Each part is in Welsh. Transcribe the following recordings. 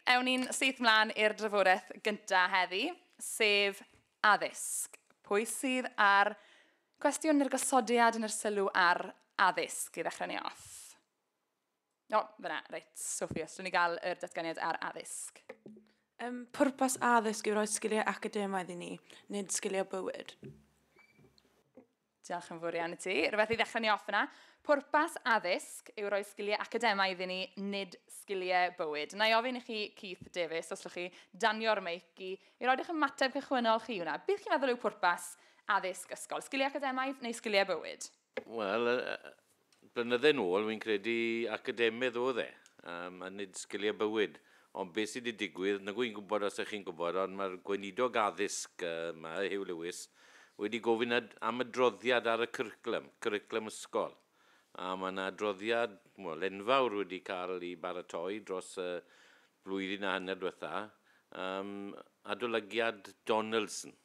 Ewn ni'n syth mlaen i'r drafodaeth gyntaf heddi, sef addysg. Pwy sydd ar gwestiwn neu'r gosodiad yn yr sylw ar addysg i ddechrau ni off? O, fyna, reit, Sophie, os dwi'n ni gael yr datganiad ar addysg. Um, pwrpas addysg yw rhoi sgiliau academaidd i ni, nid sgiliau bywyd. Diolch yn fawr iawn i ti. Rhywbeth i ddechrau ni off yna. Pwrpas addysg yw rhoi sgiliau academaidd iddyn ni, nid sgiliau bywyd. Na i ofyn i chi, Keith Davies, os llwch chi danio'r meic i, i roed eich ymateb cychwynnol chi hwnna. Beth chi'n meddwl yw pwrpas addysg ysgol? Sgiliau academaidd neu sgiliau bywyd? Wel, Blynydde nôl, wi'n credu academydd oedd e, yym, a nid sgiliau bywyd. Ond beth sy 'di digwydd, nag wy'n gwybod os 'ych chi'n gwybod, ond mae'r Gweinidog Addysg yma, Huw Lewis, wedi gofyn ad- am adroddiad ar y cwricwlwm, cwricwlwm ysgol. A mae yna adroddiad, wel, enfawr wedi cael ei baratoi dros y flwyddyn a hanner diwetha', yym, adolygiad Donaldson.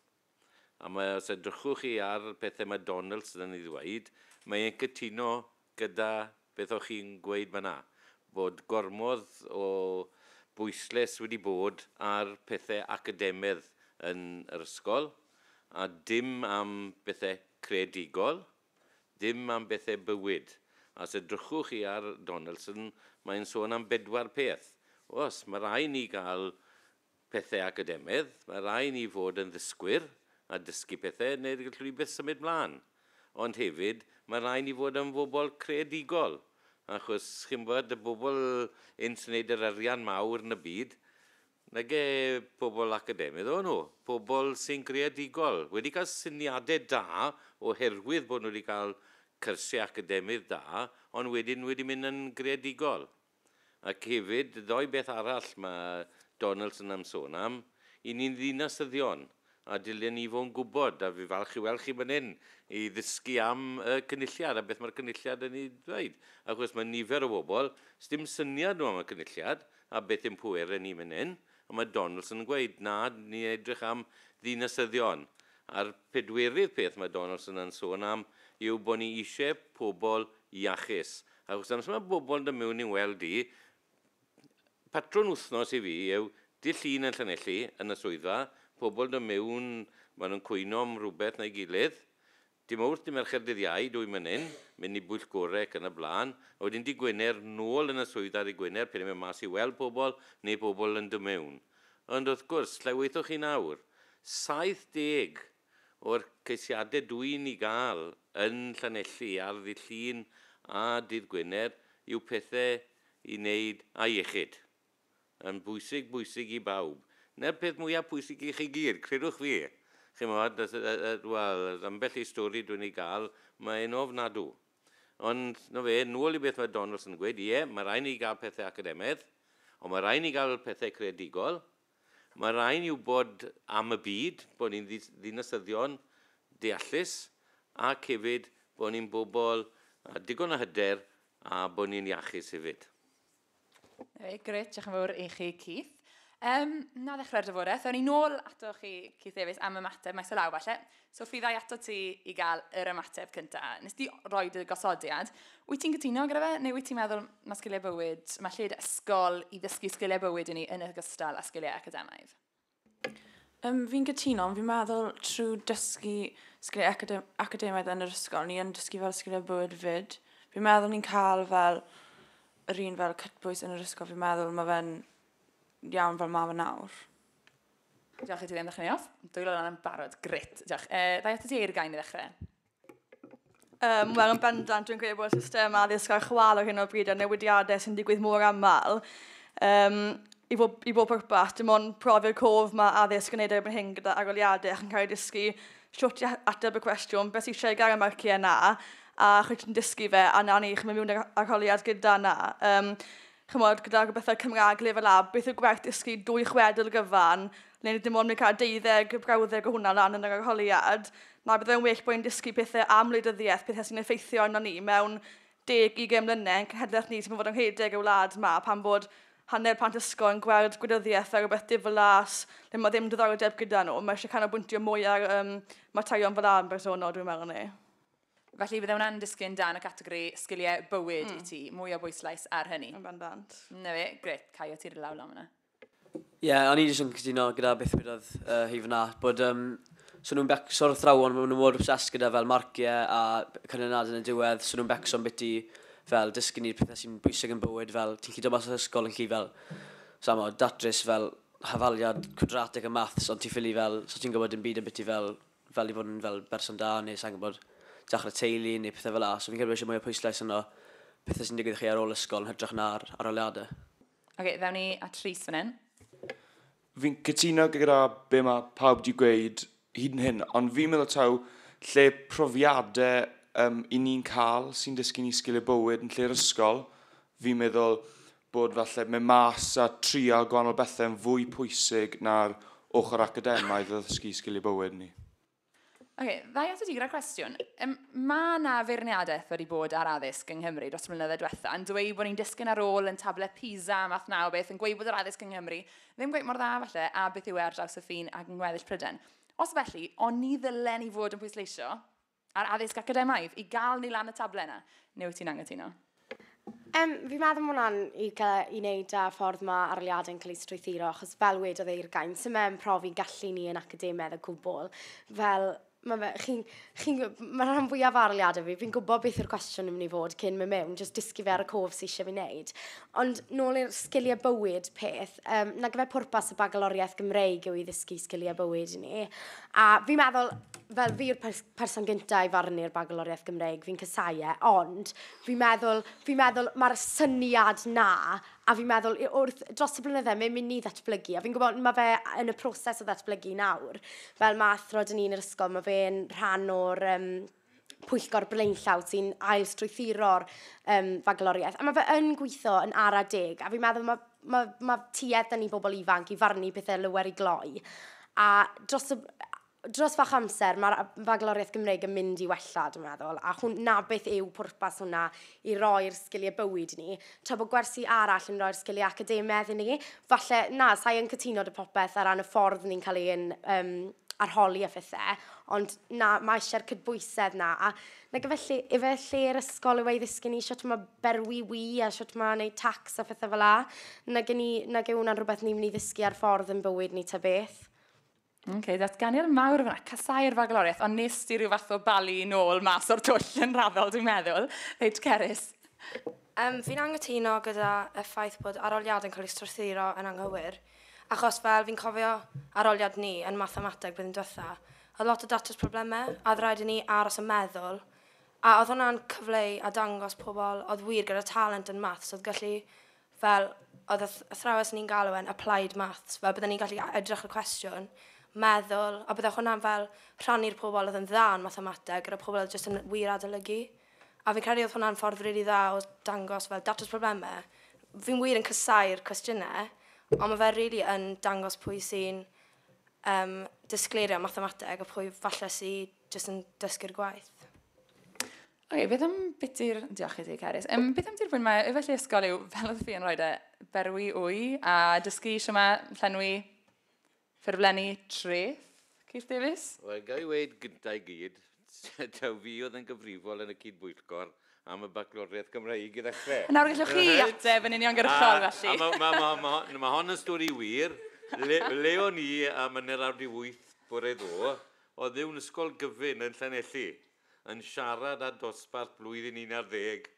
A mae, os edrychwch chi ar pethau mae Donaldson yn ei ddweud, mae e'n cytuno gyda beth o'ch chi'n gweud fan'na, bod gormod o bwysles wedi bod ar pethau academedd yn yr ysgol, a dim am bethau creadigol, ddim am bethau bywyd. A os edrychwch chi ar Donaldson, mae e'n sôn am bedwar peth. Oes, mae rhaid ni gael pethau academaidd, mae rhai i ni fod yn ddysgwyr a dysgu pethau yn neud i'r llwybr symud mlân, ond hefyd mae rhai i ni fod yn fobl creadigol, achos chi'n gwybod y bobl hyn sy'n neud yr arian mawr yn y byd, nage pobl academaidd oedden nhw, pobl sy'n greadigol, wedi cael syniadau da oherwydd bod nhw wedi cael cyrsiau academaidd da, ond wedyn wedi mynd yn greadigol. Ac hefyd, ddoe beth arall mae Donaldson am sôn am, i ni'n ddinasyddion, a dylia ni fo'n gwybod, a fi falch i weld chi fan hyn, i ddysgu am y Cynulliad a beth mae'r Cynulliad yn ei ddweud. Ac wrth mae nifer o bobl, sdim syniad nhw am y Cynulliad, a beth ein pwerau ni fan hyn, a mae Donaldson yn gweud, na, ni'n edrych am ddinasyddion. A'r pedwerydd peth mae Donaldson yn sôn am yw bod ni eisiau pobl iachus, Achos amser mae bobl yn dod mewn i'n weld i, patrwn wythnos i fi yw dydd Llun yn Llanelli yn y swyddfa, pobl yn dod mewn, maen nhw'n cwyno am rywbeth neu gilydd, dydd Mawrth, dydd Mercher, dydd Iau, dwy menyn, mynd i bwyllgorau ac yn y blaen, a wedyn dydd Gwener nôl yn y swyddfa dydd Gwener pan ni'n mynd mas i weld pobl neu pobl yn dod mewn. Ond wrth gwrs, lle weithiwch chi nawr? 70 O'r ceisiadau dw i'n ei gael yn Llanelli ar ddydd Llun a dydd Gwener yw pethau i wneud â iechyd. Yn bwysig, bwysig i bawb. Na'r peth mwyaf pwysig i chi gyd, credwch fi. Chimod, wel, ambell i stori dw i'n ei gael, mae'n ofnadw. Ond, 'na fe, nôl i beth mae Donaldson yn gweud, ie, mae rhaid i ni gael pethau academaidd, ond mae rhaid i ni gael pethau creadigol. Mae rhaid ni wybod am y byd, bod ni'n ddinasyddion deallus ac hefyd bod ni'n bobl â digon o hyder a bod ni'n iachus hefyd. Reit, grêt, diolch yn fawr i chi Keith. Um, na ddechrau'r drafodaeth, ewn ni nôl ato chi Keith Davies am ymateb, mae selaw falle. So fydda i atat ti i gael yr ymateb cynta. Nes di roi dy gosodiad. Wyt ti'n cytuno gyda fe, neu wyt ti'n meddwl mae sgiliau bywyd, mae lle dy ysgol i ddysgu sgiliau bywyd i ni yn ogystal â sgiliau academaidd? Um, fi'n cytuno, ond fi'n meddwl trwy dysgu sgiliau academ academaidd yn yr ysgol, ni yn dysgu fel sgiliau bywyd fyd. Fi'n meddwl ni'n cael fel yr un fel cytbwys yn yr ysgol, fi'n meddwl mae fe'n iawn fel mae fe nawr. Diolch i ti ddim ddechrau ni off. Dwy lan yn barod. Grit. Diolch. E, ddau ato ti eir gain i ddechrau. Um, Wel, yn bendant, dwi'n credu bod y system addysg ar chwal ar hyn o bryd a newidiadau sy'n digwydd mor aml. Um, i, bob, I bob pwrpas, dim ond profi'r cof mae addysg yn gwneud erbyn hyn gyda aroliadau ac yn cael ei dysgu siwt i ateb y cwestiwn beth sy'n eisiau gael y marciau yna a chwyt yn dysgu fe a na ni chi'n mynd mewn arholiad gyda yna. Um, chimod, gyda rhywbethau Cymraeg Level A, beth yw gwerth dysgu dwy chwedl gyfan, le ni dim ond yn cael deuddeg, brawddeg o hwnna lan yn yr arholiad, na bydd e'n well bod ni'n dysgu pethau am wleidyddiaeth, pethau sy'n effeithio arno ni mewn deg, ugain mlynedd, yn cenhedlaeth ni sy'n mynd fod yn rhedeg y wlad yma, pan bod hanner plant ysgol yn gweld gwleidyddiaeth fel rhywbeth diflas, le mae ddim diddordeb gyda nhw, mae eisiau canolbwyntio mwy ar um, materion fel am bersonol, dwi'n meddwl ni. Felly bydde hwnna'n disgyn dan y categori sgiliau bywyd mm. i ti, mwy o bwyslais ar hynny. Yn ban bant. Na fe, gret, cael o tir law lan fyna. Ie, yeah, o'n i jyst yn cytuno gyda beth wedodd uh, hi fyna, bod um, so nhw'n becso'r athrawon, maen nhw'n mor obsessed gyda fel marciau a canlyniad yn y diwedd, so nhw'n becso'n biti fel dysgu ni'r pethau sy'n bwysig yn bywyd, fel ti'n chido mas o'r ysgol yn chi fel, samo, datrys fel hafaliad quadratic y maths, ond ti'n ffili fel, so ti'n gwybod yn byd yn biti fel fel i fod yn fel berson da neu sai'n gwybod, dechrau teulu neu pethau fel 'na. So fi'n credu bod eisiau mwy o pwyslais arno pethau sy'n digwydd i chi ar ôl ysgol yn hytrach na'r arholiadau. Oce, ddaw ni at Rhys fan hyn. Fi'n cytuno gyda be mae pawb wedi gweud hyd yn hyn, ond fi'n meddwl taw lle profiadau um, i ni'n cael sy'n dysgu ni sgiliau bywyd yn lle'r ysgol, fi'n meddwl bod falle mynd mas a trial gwahanol bethau yn fwy pwysig na'r ochr academaidd o ddysgu sgiliau bywyd ni. Ok, ddau ato ti gyda'r cwestiwn. Um, mae yna feirniadaeth wedi bod ar addysg yng Nghymru dros y mlynyddoedd diwetha, yn dweud bod ni'n disgyn ar ôl yn table PISA, math naw beth, yn gweud bod yr addysg yng Nghymru ddim gweud mor dda falle, a beth yw e ar draws y ffin ac yng ngweddill Pryden. Os felly, o'n ni ddylen i fod yn pwysleisio A'r addysg academaidd, i gael ni lan y table yna. Neu wyt ti'n angytuno? Um, fi meddwl mae hwnna'n i, i wneud â ffordd mae arliadau'n cael ei strwythuro, achos fel wedodd eir gain, sy'n mewn profi gallu ni yn academedd y cwbl. Fel, mae chi, chi, mae rhan fwyaf arliadau fi, fi'n gwybod beth yw'r cwestiwn yn mynd i fod cyn mynd mewn, jyst dysgu fe ar y cof sy'n eisiau fi wneud. Ond nôl i'r sgiliau bywyd peth, um, na gyfer pwrpas y bagaloriaeth Gymreig yw i ddysgu sgiliau bywyd i ni. A fi'n meddwl, fel fi yw'r pers person gyntaf i farnu'r bagaloriaeth Gymreig, fi'n cysau e, ond fi'n meddwl, fi meddwl mae'r syniad na, a fi'n meddwl wrth dros y blynyddau mae'n mynd i ddatblygu, a fi'n gwybod mae fe yn y proses o ddatblygu nawr. Fel mae athro dyn ni'n yr ysgol, mae fe'n rhan o'r um, pwyllgor blaenllaw sy'n ail strwythuro'r um, fagloriaeth. A mae fe yn gweithio yn ara deg, a fi'n meddwl mae, mae, mae tuedd da ni bobl ifanc i farnu pethau lywer i gloi. A dros y, dros fach amser mae'r fagloriaeth Gymreig yn mynd i wella, dwi'n meddwl, a hwn, na beth yw pwrpas hwnna i roi'r sgiliau bywyd ni, tra bod gwersi arall yn rhoi'r sgiliau academaidd i ni. Falle, na, sa'i yn cytuno dy popeth ar ran y ffordd ni'n cael ein um, arholi a phethau, ond na, mae eisiau'r cydbwysedd na. A na gyfellu, efe lle'r ysgol yw ei ddysgu ni sut mae berwi wi a sut mae wneud tax a phethau fel la. Na gen i, na gen hwnna'n rhywbeth ni'n mynd i ddysgu ar ffordd yn bywyd ni ta beth. Oce, okay, datganiad mawr yma. Casau'r fagloriaeth, ond nes di rhyw fath o bali yn ôl mas o'r twll yn raddol, dwi'n meddwl. Reit, Cerys. Um, fi'n angytuno gyda y ffaith bod aroliad yn cael ei strwythuro yn anghywir, achos fel fi'n cofio aroliad ni yn mathemateg blwyddyn diwetha, oedd lot o datrys problemau, a oedd rhaid i ni aros yn meddwl, a oedd hwnna'n cyfleu a dangos pobl oedd wir gyda talent yn maths, oedd gallu fel oedd y th- athrawes o'n i'n galw e'n applied maths, fel bydden ni'n gallu a- edrych ar y cwestiwn, meddwl, a bydde hwnna'n fel rhannu'r pobl oedd yn dda yn mathemateg gyda pobl oedd jyst yn wir adolygu. A fi'n credu oedd hwnna'n ffordd rili really dda o dangos fel datrys problemau. Fi'n wir yn cysau'r cwestiynau, ond mae fe rili really yn dangos pwy sy'n um, disgleirio mathemateg a pwy falle sy'n jyst yn dysgu'r gwaith. Ok, beth am biti'r... Diolch i ti, Carys. Um, beth am dirfwyn mae efallai ysgol yw, fel oedd fi yn rhoi e, berwi wy a dysgu eisiau mae llenwi ffurflenni treth, Keith Davies? Wel, gael ei weid gyntaf i gyd, taw fi oedd yn gyfrifol yn y cyd-bwyllgor am y bacloriaeth Gymraeg i ddechrau. Nawr gallwch chi ateb yn uniongyrchol, felly. Mae ma, ma, ma, ma hon yn stori wir. Le, le o'n i am yn yr awr di wyth bore ddo, Oeddywn Ysgol Gyfun yn Llanelli yn siarad â dosbarth blwyddyn un ar ddeg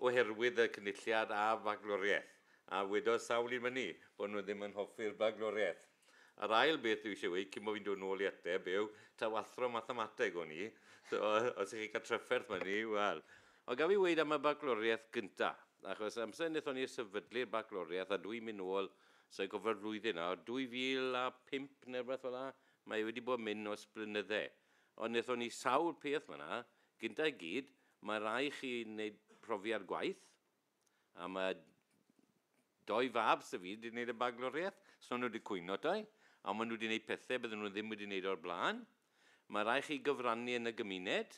oherwydd y Cynulliad a Fagloriaeth, a wedodd sawl un myni bod nhw ddim yn hoffi'r Bagloriaeth. Yr ail beth dwi eisiau weud, cyn bo fi'n dod nôl i ateb, yw taw athro Mathemateg o'n i, so os chi'n cael trafferth myni, wel. Ond gaf fi weud am y Bagloriaeth gynta', achos amser wnaethon ni sefydlu'r Bagloriaeth, a dwi'n mynd nôl, sa i'n cofio'r flwyddyn nawr, 2005 neu rywbeth fel 'na, Mae wedi bod myn os blynydde. Ond nethon ni sawl peth fanna. Gynta i gyd, mae rai i chi neud profiad gwaith. A mae doi fab sy fi wedi neud y bagloriaeth. So nhw wedi cwyno doi. A mae nhw wedi neud pethe bydden nhw ddim wedi neud o'r blaen. Mae rai chi gyfrannu yn y gymuned.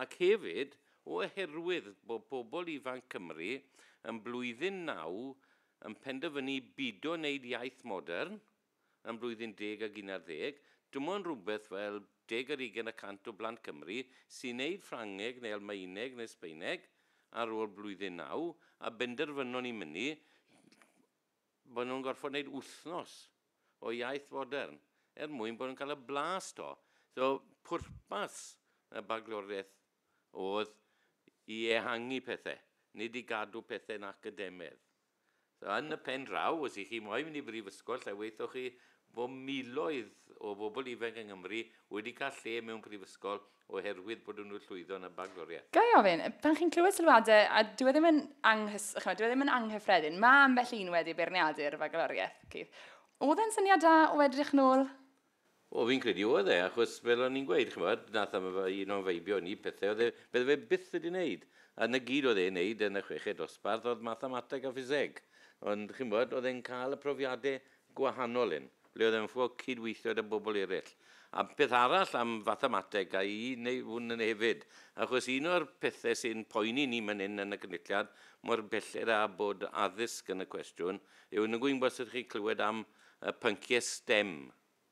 Ac hefyd, oherwydd bod pobl ifanc Cymru yn blwyddyn naw yn penderfynu bido wneud iaith modern yn blwyddyn deg ag un ar ddeg, dim ond rhywbeth fel deg ar ugain y cant o blant Cymru sy'n wneud Ffrangeg neu Almaeneg neu Sbaeneg ar ôl blwyddyn naw, a benderfynon ni mynnu. Bod nhw'n gorfod neud wythnos o iaith fodern er mwyn bod yn cael y blas to. So pwrpas y bagloriaeth oedd i ehangu pethe, nid i gadw pethe'n academedd. So yn y pen draw, os y'ch chi moyn mynd i brifysgol, lle weithoch chi fod miloedd o bobl ifanc yng Nghymru wedi cael lle mewn prifysgol oherwydd bod nhw llwyddo yn y bagloriaeth. Ga i ofyn, pan chi'n clywed sylwadau, a dyw e ddim yn anghys, chymod, dyw e ddim yn anghyffredin, mae ambell un wedi beirniadu'r fagloriaeth, Keith. Oedd e'n syniad da o edrych nôl? O, fi'n credu oedd e, achos fel o'n i'n gweud, chymod, nath am un o'n feibio ni pethau oedd e, bydde fe byth wedi wneud. A na gyd oedd e'n wneud yn y chweched dosbarth oedd mathemateg a ffiseg. Ond, chymod, oedd e'n cael y profiadau gwahanol hyn, ble oedd e'n ffwc cyd-weithio 'da bobl eraill. A peth arall am fathemateg, a i neu hwn yn hefyd, achos un o'r pethe sy'n poeni ni man hyn yn y Cynulliad, mor belled â bod addysg yn y cwestiwn, yw, nag wy'n gwybod os ydych chi'n clywed am y pyncie stem,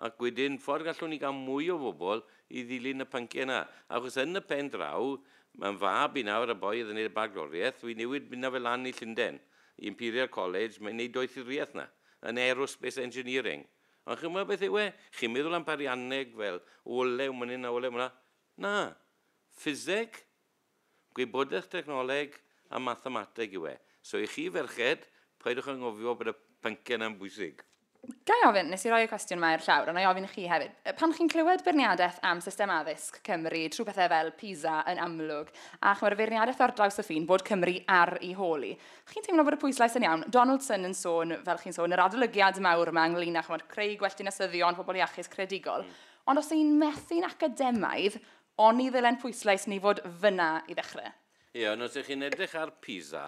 Ac wedyn, ffordd gallwn ni gael mwy o bobl i ddilyn y pynciau yna? Achos yn y pen draw, mae 'y mhab i nawr, y boi oedd yn wneud y bagloriaeth, fi'n newid mynd â fe lan i Llundain, i Imperial College, mae'n wneud doethuriaeth 'na, yn Aerospace Engineering. Ond chi'n gwybod beth yw e? Chi'n meddwl am arianneg fel olew mynnyn a olew mla? Na. Ffiseg? Gwybodaeth dechnoleg a mathemateg yw e, so i chi ferched, paidwch â ngofio bod y pynciau yna'n bwysig. Ga i ofyn, nes i roi y cwestiwn yma i'r llawr, ond na i ofyn i chi hefyd, pan chi'n clywed beirniadaeth am system addysg Cymru trwy bethau fel PISA yn amlwg, a chimod y feirniadaeth ar draws y ffin bod Cymru ar ei hôl hi, chi'n teimlo bod y pwyslais yn iawn? Donaldson yn sôn, fel chi'n sôn, yr adolygiad mawr yma ynglŷn â chimod creu gwell dinasyddion, pobl iachus, creadigol, ond os y'n ni'n methu'n academaidd, Oni ddylen pwyslais ni fod fyna i ddechrau? Ie, ond os ych chi'n edrych ar Pisa,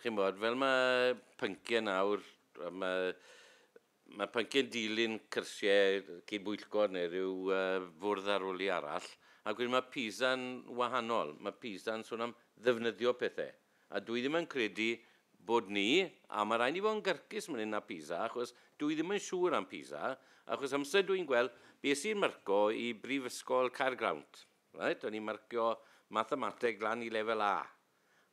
chi'n bod, fel mae pynciau nawr, mae, mae pynciau'n dilyn cyrsiau cyd-bwyllgor neu rhyw uh, fwrdd arwli arall, ac wedyn mae Pisa'n wahanol. Mae Pisa'n sôn am ddefnyddio pethau. A dwi ddim yn credu bod ni, a ma' raid ni fod yn gyrcus man 'yn â Pisa achos dwi ddim yn siŵr am Pisa, achos amser dwi'n gweld, bues i'n marco i Brifysgol Caergrawnt, reit, o'n i'n marcio Mathemateg lan i Lefel A,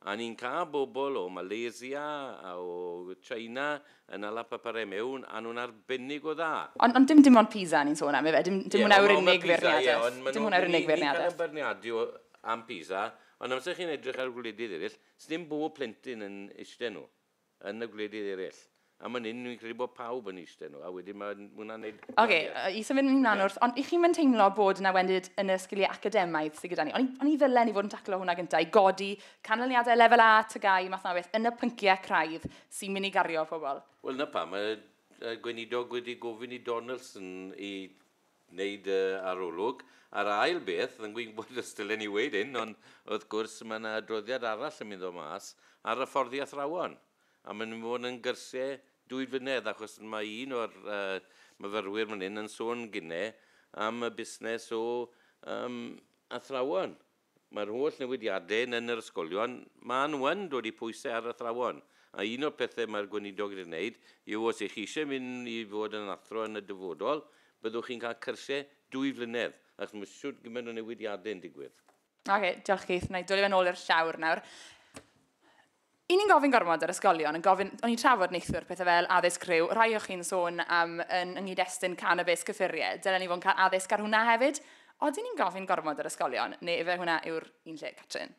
a ni'n cael bobl o Malaysia a o China yn ala papurau mewn, a nhw'n arbennig o dda. Ond ond dim dim ond Pisa ni'n sôn am ife, dim dim hwnna yw'r unig feirniadaeth, dim hwnna yw'r unig feirniadaeth. Ie, ond ma' Pisa, ie, ond ma' nhw, ni'n cael ein beirniadu am Pisa, Ond amser chi'n edrych ar gwledydd eraill, sdim bob plentyn yn eistedd nhw, yn y gwledydd eraill. A man hyn fi'n credu bod pawb yn eistedd nhw, a wedyn ma' hwnna'n neud gwanieth. Oce, i symud mlan nawr, ond i chi'm yn teimlo bod yna wendid yn y sgilie academaidd sy gyda ni? Oni, oni ddylen ni fod yn taclo hwnna gynta, i godi canlyniadau lefel A, TGAU, math yna o beth, yn y pyncie craidd sy'n myn' i gario pobl? Wel 'na pam y gweinidog wedi gofyn i Donaldson i wneud dy arolwg. A'r ail beth, yn gwybod os dylen i weud hyn, ond wrth gwrs mae yna adroddiad arall yn mynd o mas ar hyfforddi athrawon, a mae'n mynd i fod yn gyrsiau dwy flynedd, achos mae un o'r myfyrwyr fan hyn yn sôn gynne am y busnes o athrawon. Mae'r holl newidiadau yn yr ysgolion, maen nhw yn dod i pwysau ar athrawon, a un o'r pethau mae'r Gweinidog wedi gwneud yw os ych chi eisiau mynd i fod yn athro yn y dyfodol, byddwch chi'n cael cyrsiau dwy flynedd, achos mae shwt gymaint o newidiadau yn digwydd. Oce, diolch Keith. Wna i dwli fe'n ôl i'r llawr nawr. Y'n ni'n gofyn gormod ar ysgolion, yn gofyn, o'n i'n trafod neithwr pethau fel addysg rhyw, rhai o chi'n sôn am yn yng nghyd-destun canabis cyffuriau, dylen ni fod yn cael addysg ar hwnna hefyd? Odyn ni'n gofyn gormod ar ysgolion, neu ife hwnna yw'r un lle, Catrin?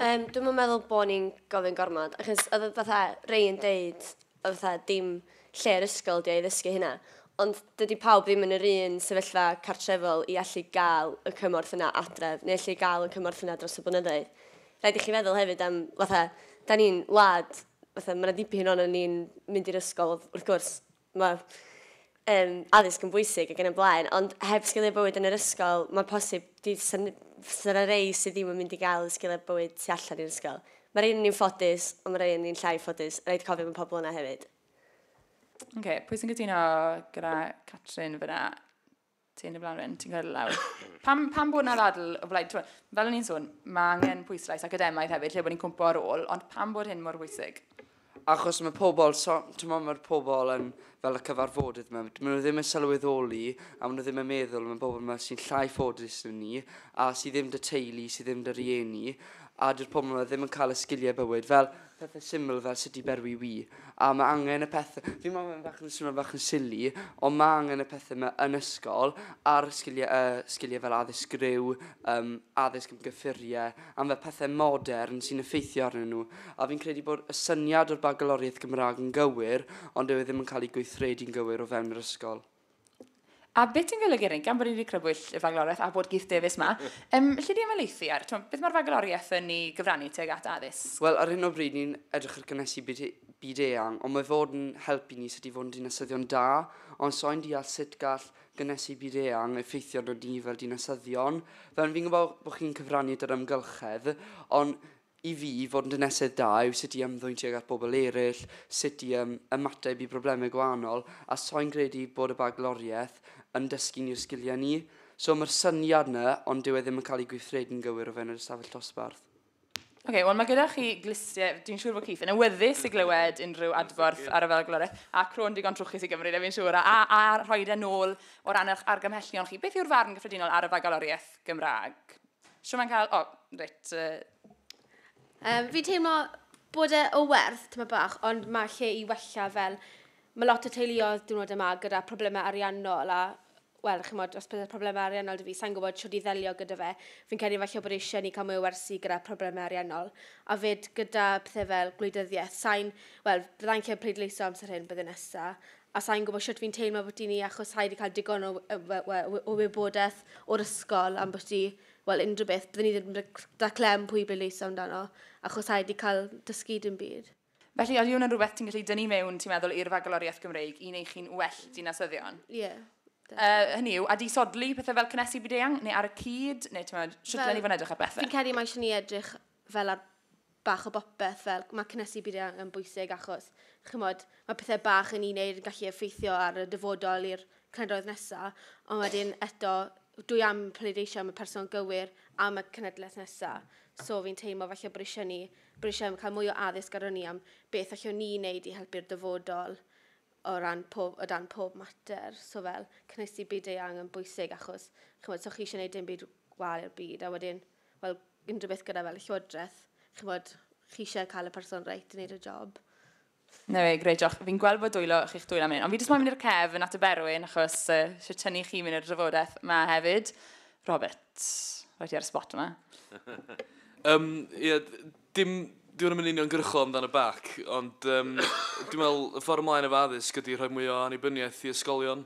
Yym, dwi'm yn meddwl bo' ni'n gofyn gormod, achos oedd fatha rei yn deud, fatha dim lle yr ysgol ydi o i ddysgu hynna. Ond dydi pawb ddim yn yr un sefyllfa cartrefol i allu gael y cymorth yna adref, neu allu gael y cymorth yna dros y blynyddoedd. Rhaid i chi feddwl hefyd am, fatha, da ni'n wlad, fatha, mae yna dipyn o'n ni'n mynd i'r ysgol, wrth gwrs, mae yym, addysg yn bwysig ac yn y blaen, ond heb sgiliau bywyd yn yr ysgol, mae'n posib dydd sy'n fysa na rei sydd ddim yn mynd i gael y sgiliau bywyd tu allan i'r ysgol. Mae rei ni'n ffodus, ond mae rei yn ni'n llai ffodus. Rhaid cofio am y pobl yna hefyd. OK, pwy sy'n gytuno gyda Catrin fyna? Ti'n y blaen rhywun, ti'n cael lawr. pam, pam bod yna ddadl o blaid? Fel o'n i'n sôn, mae angen pwyslais academaidd hefyd, lle bod ni'n cwmpo ar ôl, ond pam bod hyn mor bwysig? Achos mae pobl, so, ti'n meddwl mae'r pobl yn fel y cyfarfodydd yma, maen nhw ddim yn sylweddoli a maen nhw ddim yn meddwl am y bobl yma sy'n llai ffodus yn ni a sydd ddim dy teulu, sydd ddim dy rieni a dy'r pobl yma ddim yn cael y sgiliau bywyd. Fel, pethe syml fel sut i berwi wy, a ma' angen y pethe... Fi'n meddwl mae'n bach yn swnio bach yn silly, ond ma' angen y pethe 'ma yn ysgol, a'r sgilie yy sgilie fel addysg griw, yym addysg am gyffurie, am fel pethe modern sy'n effeithio arnyn nhw. A fi'n credu bod y syniad o'r Bagaloriaeth Gymra'g yn gywir, ond dyw e ddim yn cael ei gweithredu'n gywir o fewn yr ysgol. A beth sy'n golygu hynny? Gan bod ni wedi crybwyll y fagloriaeth a bod Keith Davies yma, um, lle di ymelaethu ar? Twm, beth mae'r fagloriaeth yn ei gyfrannu teg at addysg? Wel, ar hyn o bryd ni'n edrych ar gynnesu byd, e-, byd eang, ond mae fod yn helpu ni sut i fod yn dinasyddion da, ond so'n deall sut gall gynnesu byd eang effeithio nod ni fel dinasyddion. Fel fi'n gwybod bod chi'n cyfrannu at yr ymgylchedd, ond I fi, fod yn dinesydd da yw sut i ymddwyn tuag at bobl eraill, sut i yym ymateb i broblemau gwahanol, a soi'n credu bod y bagloriaeth yn dysgu ni'r sgiliau 'ny. So mae'r syniad 'na, ond dyw e ddim yn cael ei gweithredu'n gywir o fewn yr ystafell dosbarth. Ok, wel mae gyda chi glustiau, dwi'n siŵr bod Keith yn awyddus i glywed unrhyw adborth ar y bagloriaeth, a cro'n digon trwchus i Gymru, na fi'n siŵr, a, a rhoi e nôl o ran eich argymhellion chi. Beth yw'r farn gyffredinol ar y bagloriaeth Gymraeg? Siw mae'n cael... O, reit. Um, fi'n teimlo bod e o werth, tyma bach, ond mae lle i wella fel... Mae lot o teuluoedd diwrnod yma gyda problemau ariannol a wel, chi'n modd, os byddai'r problemau ariannol dy fi, sa'n gwybod siwr i ddelio gyda fe. Fi'n credu falle bod eisiau ni cael mwy o wersi gyda problemau ariannol. A fyd gyda pethau fel gwleidyddiaeth, sa'n, wel, byddai'n lle pleidleisio amser hyn byddai nesaf. a sa i'n gwybod shwt fi'n teimlo ambyti ni achos sa i 'di cael digon o yy we- we- we- o wybodaeth o'r ysgol ambyti, wel, unrhyw beth. Byddwn ni ddim yn rhoi da clem pwy i bleidleisio amdano, achos sa i 'di cael dysgu dim byd. Felly, ydy hwnna'n rhywbeth ti'n gallu dynnu mewn, ti'n meddwl, i'r Fagaloriaeth Gymreig i wneud chi'n well dinasyddion? Ie, Yy, definitely. hynny yw, a di sodlu pethau fel cynnesu byd-eang, neu ar y cyd, neu ti'n meddwl, shwt Fel- dylen ni fod yn edrych ar bethau? Fi'n credu mae eisiau ni edrych fel ar bach o bopeth fel mae cynhesu buriau yn bwysig achos chymod, mae pethau bach yn ni'n neud yn gallu effeithio ar y dyfodol i'r cenedloedd nesaf, ond wedyn eto, dwi am pleidleisio am y person gywir am y cenedlaeth nesaf. So fi'n teimlo falle bod eisiau ni, bod eisiau cael mwy o addysg ar ni am beth allwn ni wneud i helpu'r dyfodol o ran pob, o dan pob mater. So fel, cynhesu byd eang yn bwysig achos, chymod, so chi eisiau gwneud dim byd gwal i'r byd, a wedyn fel unrhyw beth gyda fel y llywodraeth, chi'n bod, chi eisiau cael y person reit i wneud y job. Na fe, greu joch. Fi'n gweld bod dwylo chi'ch dwylo am hyn, ond fi jyst moyn mynd i'r cef yn at y berwyn, achos uh, eisiau tynnu chi mynd i'r drafodaeth yma hefyd. Robert, rhaid i ar y spot yma. um, yeah, dim, Dwi'n mynd union gyrchol amdan y bac, ond um, dwi'n meddwl y ffordd ymlaen efo addysg ydy rhoi mwy o anibyniaeth i ysgolion.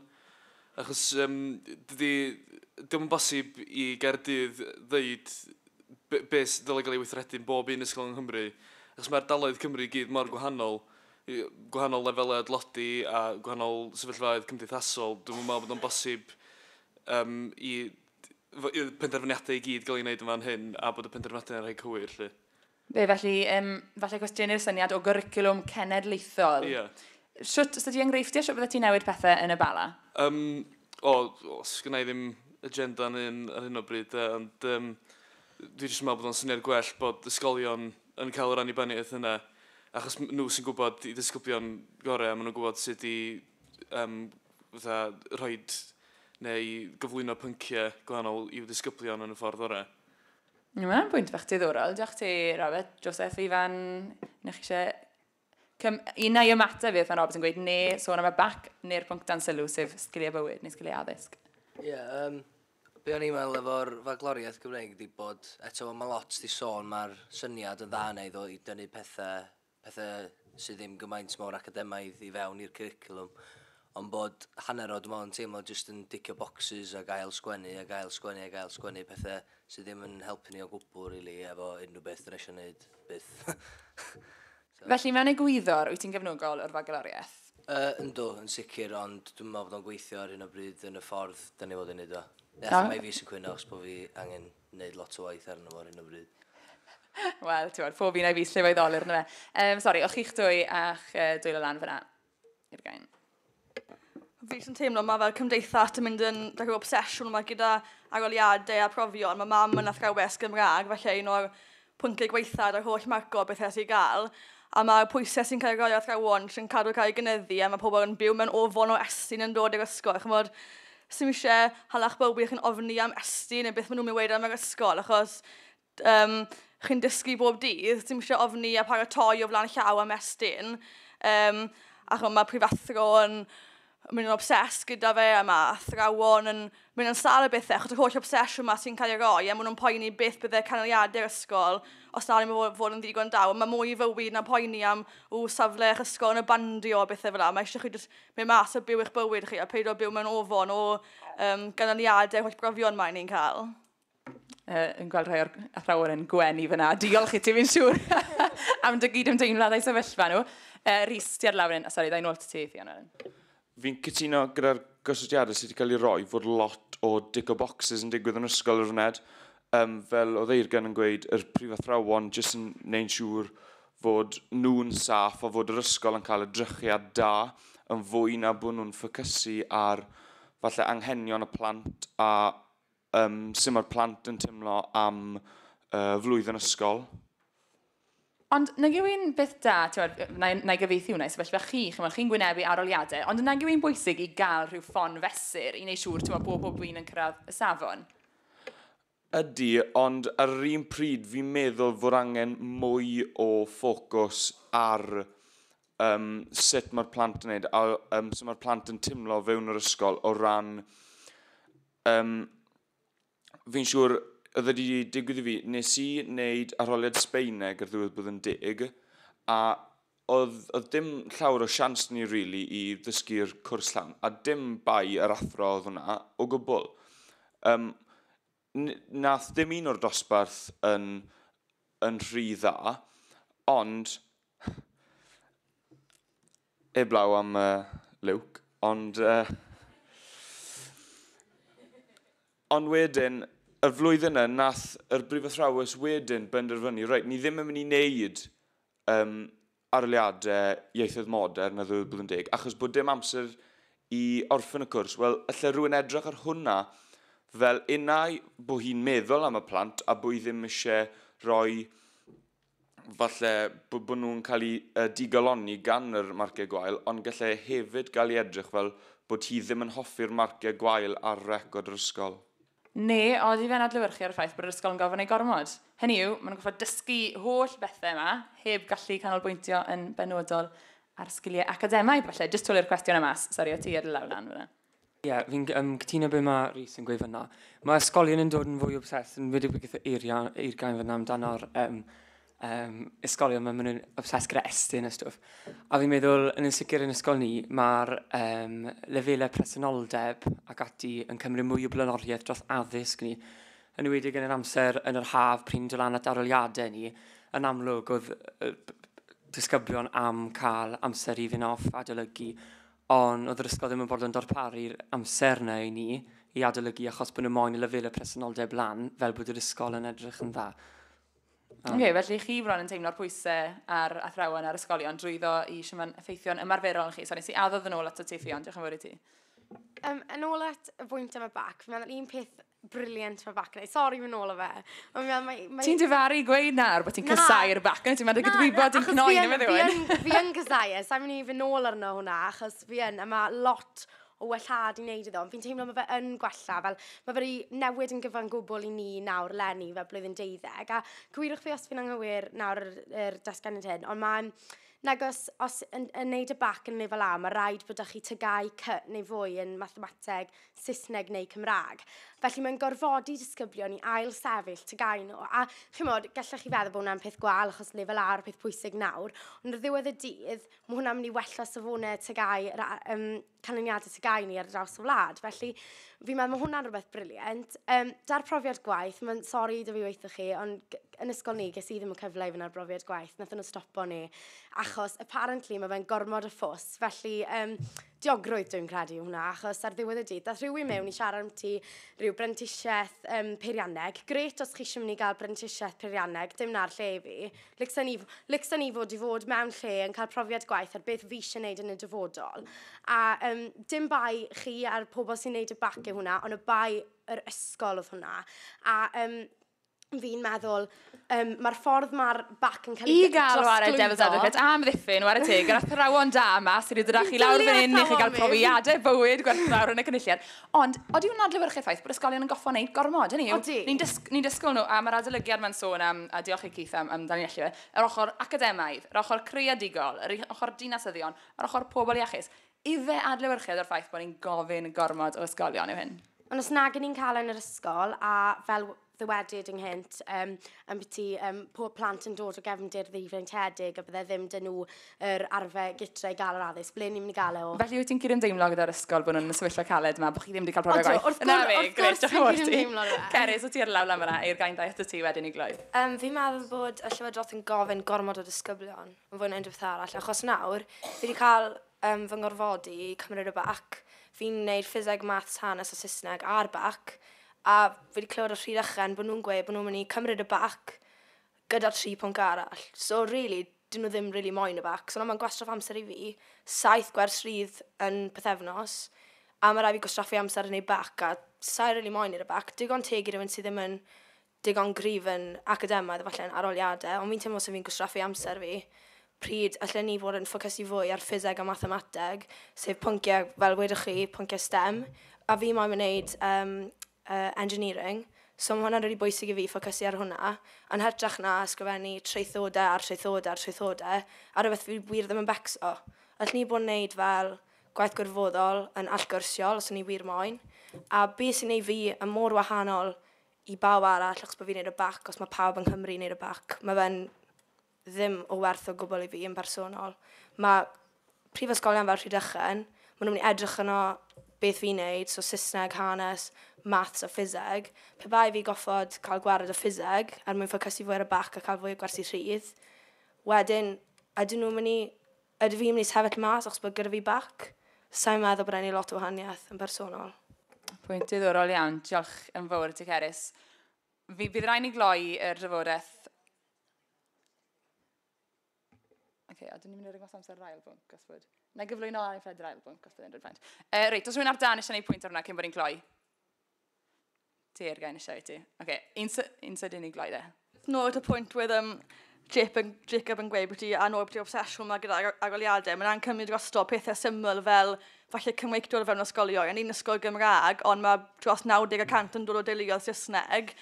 Achos yym dydi... Dio'm yn bosib i Gaerdydd ddeud be- be' sy' ddylia gael ei weithredu yn bob un ysgol yng Nghymru, achos ma' ardaloedd Cymru i gyd mor gwahanol, gwahanol lefelau o dlodi a gwahanol sefyllfaoedd cymdeithasol, dwi'm yn meddwl bod o'n bosib yym i... fo- i'r penderfyniadau i gyd gael eu wneud yn fan hyn a bod y penderfyniadau yna'n rhai cywir 'lly. Be, felly, um, falle cwestiynu'r syniad o gyricwlwm cenedlaethol. Ie. Yeah. Sut, os ydy enghreifftiau, sut fydde ti'n newid pethau yn y bala? Um, o, os gynnau ddim agenda yn un ar hyn o bryd, e, ond um, dwi jyst yn meddwl bod o'n syniad gwell bod ysgolion yn cael yr annibyniaeth yna, achos nhw sy'n gwybod i ddisgyblion gorau, maen nhw'n gwybod sut i um, fatha, rhoi neu gyflwyno pynciau gwahanol i'w ddisgyblion yn y ffordd orau. Mae hwnna'n bwynt bach diddorol. Diolch ti, Robert. Joseph, Ifan, na chi eisiau... Cym... Un na i ymateb fi, pan Robert yn gweud, ne sôn am y bac, neu'r pwnc dan sylw, sef sgiliau bywyd neu sgiliau addysg. Ie, yeah, um, be o'n i'n meddwl efo'r fagloriaeth Gymreig ydi bod, eto mae lot di sôn, mae'r syniad yn dda neu ddod i dynnu pethau pethau sydd ddim gymaint mor academaidd i fewn i'r cwricwlwm, ond bod hanner o, dwi'n meddwl, yn teimlo jyst yn dicio bocsys a gael sgwennu a gael sgwennu a gael sgwennu pethau sydd ddim yn helpu ni o gwbl, really, efo unrhyw beth dyn eisiau gwneud, byth. so. Felly, mewn egwyddor, wyt ti'n gefnogol o'r fagaloriaeth? Uh, ynddo, yn sicr, ond dwi'n meddwl bod o'n gweithio ar hyn o bryd yn y ffordd dyn ni fod yn neud o. Ie, mae fi sy'n cwyno os bod fi angen wneud lot o waith arno fo ar hyn o bryd. Wel, ti'n gwybod, pob un a'i fus lle fo'i ddolur, yna fe. Um, sori, o'ch chi'ch dwy a'ch uh, dwylo lan fyna i'r gain. Fi sy'n teimlo, mae fel cymdeithas yn mynd yn like, obsesiwn yma gyda agoliadau a profion. Mae mam yn athrawes Gymraeg, felly un o'r pwyntiau gwaetha'r yr holl marco beth ers ei gael, a mae'r pwysau sy'n cael ei roi ar athrawon sy'n cadw cael ei gynyddu a mae pobl yn byw mewn ofon o estyn yn dod i'r ysgol, chymod, sdim eisiau halach bywyd wych yn ofni am estyn neu beth maen nhw'n mynd i weud am yr ysgol achos um, chi'n dysgu bob dydd, sdim eisiau ofni a paratoi o flaen llaw am estyn, um, achos mae prifathro yn mynd yn obsessed gyda fe a mae athrawon yn mynd yn sal a bethau achos yr holl obsesiwn yma sy'n cael ei roi a maen nhw'n poeni beth byddai canlyniadau'r ysgol os na ddim yn fod yn ddigon da. Mae mwy i fywyd na poeni am w safle eich ysgol yn y bandio a bethau fel yna. Mae eisiau chi jyst mynd mas a byw eich bywyd chi a peidio byw mewn ofon o um, ganlyniadau'r holl brofion mae'n ni'n cael. uh, yn gweld rhai o'r athrawon yn gwen i fyna. Diolch i ti, fi'n siŵr, am dy gyd ymdeimlad a'i sefyllfa nhw. Uh, Rhys, ti ar lawr yn... Sori, da i'n ôl ti, Fiona. Fi'n cytuno gyda'r gysylltiadau sydd wedi cael ei roi fod lot o dick o boxes yn digwydd yn ysgol yr wned. Um, fel oedd Eirgan yn gweud, yr prif athrawon jyst yn neu'n siŵr fod nhw'n saff a fod yr ysgol yn cael y drychiad da yn fwy na bod nhw'n ffocysu ar falle anghenion y plant a Yym, sut mae'r plant yn teimlo am uh, flwyddyn ysgol? Ond nag yw un beth da, ti'n na, na i gyfeithi hwnna i sefyllfa chi, chi'n chi gwynebu aroliadau, ond nag yw un bwysig i gael rhyw ffon fesur i wneud siŵr, ti'n bod bob un yn cyrraedd y safon? Ydy, ond ar yr un pryd fi'n meddwl fod angen mwy o ffocws ar um, sut mae'r plant yn gwneud a um, sut mae'r plant yn teimlo fewn yr ysgol o ran Yym, fi'n siŵr oedd e wedi digwydd i fi, nes i wneud arholiad Sbaeneg ar ddiwedd blwyddyn deg, a oedd, oedd dim llawr o sians ni really i ddysgu'r cwrs llawn, a dim bai yr athro oedd hwnna o gwbl. Um, nath dim un o'r dosbarth yn, yn rhy dda, ond Heblaw am uh, Luke, ond... Uh, ond wedyn, y flwyddyn yna, nath yr brifathrawes wedyn benderfynu, reit, ni ddim yn mynd i wneud um, arliadau ieithoedd modern a ddweud bod yn deg, achos bod dim amser i orffen y cwrs. Wel, allai rhywun edrych ar hwnna fel unau bod hi'n meddwl am y plant a bod hi ddim eisiau rhoi falle bod, bod nhw'n cael eu uh, digalonni gan yr marciau gwael, ond gallai e hefyd gael ei edrych fel bod hi ddim yn hoffi'r marciau gwael ar record yr ysgol. Neu oeddi fe'n adlewyrchu ar y ffaith bod yr ysgol yn gorfod gwneud gormod. Hynny yw, maen nhw'n gorfod dysgu holl bethau yma, heb gallu canolbwyntio yn benodol ar sgiliau academaidd, falle. Jyst twli'r cwestiwn yma, sori o ti ar y lawr lan fyna. Ie, yeah, fi'n um, cytuno beth mae Rhys yn gweud fyna. Mae ysgolion yn dod yn fwy obsessed yn wedi beth i'r gain fyna amdano'r um, um, ysgolion mae'n mynd obsessed gyda estyn a stwff. A fi'n meddwl, yn y sicr yn ysgol ni, mae'r um, lefelau presenoldeb ac ati yn cymryd mwy o blaenoriaeth dros addysg ni. Yn ywedig yn yr amser yn yr haf pryn dod lan at aroliadau ni, yn amlwg oedd disgyblion am cael amser i fynd off adolygu Ond oedd yr ysgol ddim yn fodlon darparu'r amser 'na i ni i adolygu achos bod nhw moyn y lefelau presenoldeb lan fel bod yr ysgol yn edrych yn dda. Um, okay, felly chi bron yn teimlo'r pwysau ar athrawon a'r ysgolion drwyddo i siaman effeithio'n ymarferol yn chi. So nes i addodd yn ôl at y ti ffion, diolch yn fawr i ti. Um, yn ôl at y bwynt am y bac, fi'n meddwl un peth Brilliant for back night. Sorry fy nôl o fe. Ond mae... mae, mae... Ti'n dyfaru gweud nawr bod ti'n casau'r back night. Ti'n meddwl gyda gwybod yn cnoi na fe ddiwyn. Fi yn casau e. Sa'n mynd i fy nôl arno hwnna. Achos fi yn. A mae lot o wellhad i wneud iddo. Fi'n teimlo mae fe yn gwella. Fel, mae fe newid yn gyfan gwbl i ni nawr lenni fel blwyddyn deuddeg. A cywirwch fi os fi'n anghywir nawr yr, yr datganiad hyn. Ond mae'n Nag os, os yn, yn neud y bac yn lefel A, mae rhaid bod â chi tygau cy neu fwy yn mathemateg, Saesneg neu Cymraeg. Felly mae'n gorfodi disgyblion i ail sefyll tygau nhw. A chymod, gallech chi feddwl bod hwnna'n peth gwael achos lefel A yw'r peth pwysig nawr, ond ar ddiwedd y dydd, mae hwnna'n mynd i wella safonau tygau, um, canlyniadau tygau ni ar draws y wlad. Felly, fi'n meddwl mae hwnna'n rhywbeth briliant. Um, da'r profiad gwaith, mae'n sori da fi weithio chi, ond yn ysgol ni, ges i ddim y cyfle i fyna'r brofiad gwaith, nath nhw stopo ni, achos apparently mae fe'n gormod o ffos, felly um, diogrwydd dwi'n credu hwnna, achos ar ddiwedd y dydd, dath rhywun mewn i siarad am ti rhyw brentisiaeth um, peirianneg. Gret os chi eisiau mynd i gael brentisiaeth peirianneg, dim na'r lle i fi. Lycsa ni, lycsa ni fod i fod mewn lle yn cael profiad gwaith ar beth fi eisiau gwneud yn y dyfodol. A um, dim bai chi a'r pobl sy'n gwneud y bac yw hwnna, ond y bai yr ysgol oedd hwnna. A um, fi'n meddwl, um, mae'r ffordd mae'r bac yn cael ei I gael ar y Devil's Advocate am ddiffyn, war y teg, yr athrawon da yma sydd wedi dod â chi lawr fan hyn i chi gael profiadau bywyd gwerthfawr yn y cynulliad. Ond, oeddi hwnna'n adlewyrchu ffaith bod ysgolion yn goffo wneud gormod, hynny yw, ni'n dys ni dysgol nhw, a mae'r adolygiad mae'n sôn am, a diolch i Keith am, am dan ni'n allu, yr ochr academaidd, yr ochr creadigol, yr ochr dinasyddion, yr ochr pobl iachus. Ife adlewyrchiad o'r ffaith bod ni'n gofyn gormod o ysgolion yw hyn? Ond os nag ni'n cael yn yr ysgol, a fel ddywedyd ynghynt, um, yn biti um, pob plant yn dod o gefndir ddiwreintiedig a bydde ddim dyn nhw yr arfer gytre i gael yr addysg, ble ni'n mynd i gael e o? Felly wyt ti'n cydymdeimlo gyda'r ysgol bod nhw'n sefyllfa caled yma, bod chi ddim wedi cael profiad gwaith? Wrth gwrs, wrth gwrs fi'n cydymdeimlo gyda. Ceris, wyt ti ar lawr lan fyna i'r gain ddaeth y ti wedyn i gloi? Um, fi'n meddwl bod y Llywodraeth yn gofyn gormod o disgyblion. yn fwy na unrhyw beth arall achos nawr fi 'di cael um, fy ngorfodi i cymryd y bac. Fi'n gwneud ffiseg, maths, hanes a Saesneg a'r bac a fi wedi clywed o Rhydd Ychen bod nhw'n gweud bod nhw'n mynd i cymryd y bac gyda'r tri pwnc arall. So really, dyn nhw ddim rili really moyn y bac. So na mae'n gwastraff amser i fi, saith gwers rhydd yn pethefnos, a mae rai fi gwastraffu amser yn ei bac a sa'i rili really moyn i'r bac. Digon teg i rhywun sydd ddim yn digon cryf yn academaidd efallai yn arholiadau, ond fi'n teimlo os 'y fi'n gwastraffu amser fi, pryd allen i fod yn ffocysu fwy ar ffiseg a mathemateg, sef pynciau, fel wedoch chi, pynciau stem, a fi moyn wneud um, uh, engineering, so mae hwnna'n rili really bwysig i fi ffocysu ar hwnna, yn hytrach na ysgrifennu traethodau ar traethodau ar traethodau, a rhywbeth fi wir ddim yn becso. Allen ni bod yn wneud fel gwaith gwirfoddol yn allgyrsiol, os o'n ni wir moyn, a beth sy'n ei fi yn mor wahanol i bawb arall achos bod fi'n neud y bac, os mae pawb yng Nghymru yn neud y bac, mae fe'n ddim o werth o gwbl i fi yn personol. Mae prifysgolion fel Rhydychen, maen nhw'n mynd i edrych yno beth fi'n neud, so Saesneg, hanes, maths a ffiseg. Pe bai fi goffod cael gwared o ffiseg er mwyn ffocysu fwy ar y bac a cael fwy o gwersi rhydd, wedyn, ydyn nhw'n mynd i Ydw fi'n mynd i sefyll mas achos bod gyda fi bac? Sa i'n meddwl bod e'n ei lot o wahaniaeth yn bersonol. Pwynt diddorol iawn, diolch yn fawr i ti Cerys. Fi, bydd rhaid ni gloi yr drafodaeth okay, a dyn ni'n mynd i ringos amser yr ail bwnc, os bod... Na gyflwyno ar ei ffed yr ail bwnc, os bod e'n rhaid. Uh, reit, os rwy'n ar dan eisiau gwneud pwynt ar hwnna cyn bod ni'n cloi? Teyrgau yn y siarad ti. Oce, okay. un, sy, un sydd unig lai dde. Nôl at y pwynt wedd um, Jip yn, Jacob yn gweud bod ti a nôl bod ti obsesiwn yma gyda agoliadau. Mae'n ancymryd drosto pethau syml fel falle cymweictwr o fewn ysgolion. Yn un ysgol Gymraeg, ond mae dros 90 y cant yn dod o deuluoedd Saesneg.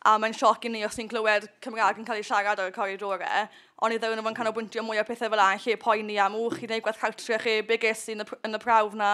A mae'n sioc i ni os ni'n clywed Cymraeg yn cael ei siarad ar y coridorau. Ond i ddewyn nhw'n canolbwyntio mwy o pethau fel a'n lle poeni am wch chi neu gwaith cartre chi, be ges i yn y, yn y prawf na?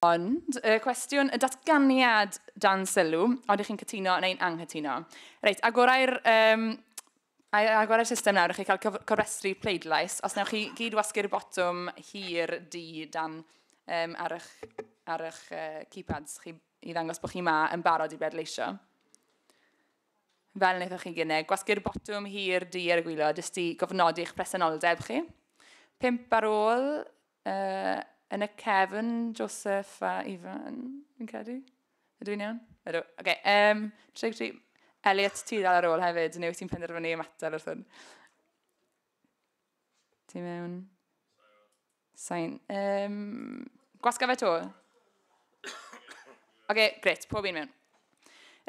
Ond, y cwestiwn, y datganiad dan sylw, ond ych chi'n cytuno neu'n anghytuno. Reit, agorau'r um, agor ar system nawr, chi cael cofrestru pleidlais. Os newch chi gyd wasgu'r botwm hir di dan um, ar eich, ar eich uh, keypads chi i ddangos bod chi ma yn barod i bleidleisio. Fel wnaethoch chi gynnig, gwasgu'r botwm hir di ar y gwylod jyst i gofnodi eich presenoldeb chi. Pimp ar ôl, Uh, yn y cefn, Joseph a Ifan, fi'n credu. Ydw i'n iawn? Ydw. Oce, okay, um, tri, tri. Elliot, ti ddal ar ôl hefyd, neu wyt ti'n penderfynu ymateb wrth hwn? Ti mewn? Sain. Um, gwasga fe to. Oce, gret, pob un mewn.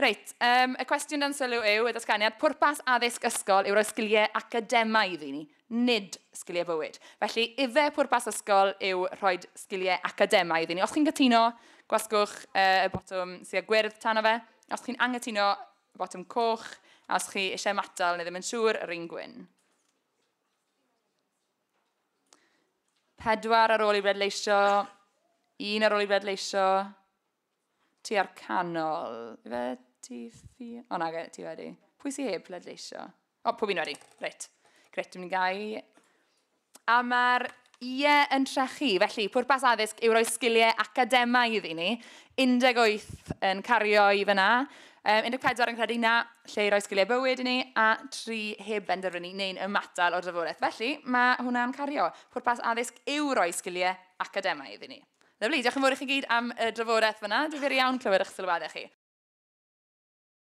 Reit, um, y cwestiwn dan sylw yw y datganiad, pwrpas addysg ysgol yw roi sgiliau academaidd i ni, nid sgiliau bywyd. Felly, ife pwrpas ysgol yw rhoi sgiliau academaidd i ni. Os chi'n gytuno, gwasgwch uh, y botwm sy'n gwyrdd tan o fe. Os chi'n angytuno, botwm coch. A os chi eisiau matal neu ddim yn siŵr, yr un gwyn. Pedwar ar ôl i redleisio. Un ar ôl i redleisio. Ti ar canol. Fe ti fi... O na, ti wedi. Pwy sy'n heb ledleisio? O, pob un wedi. Reit. Gret, dwi'n mynd gau. A mae'r ie yn trechu. Felly, pwrpas addysg yw roi sgiliau academaidd i ni. 18 yn cario i fyna. Um, 14 yn credu na, lle i roi sgiliau bywyd i ni a tri heb benderfynu neu'n ymatal o'r drafodaeth. Felly, mae hwnna'n cario. Pwrpas addysg yw roi sgiliau academaidd i ni. Lyfli, diolch yn fawr i chi gyd am y drafodaeth fyna. Difyr iawn clywed eich sylwadau chi.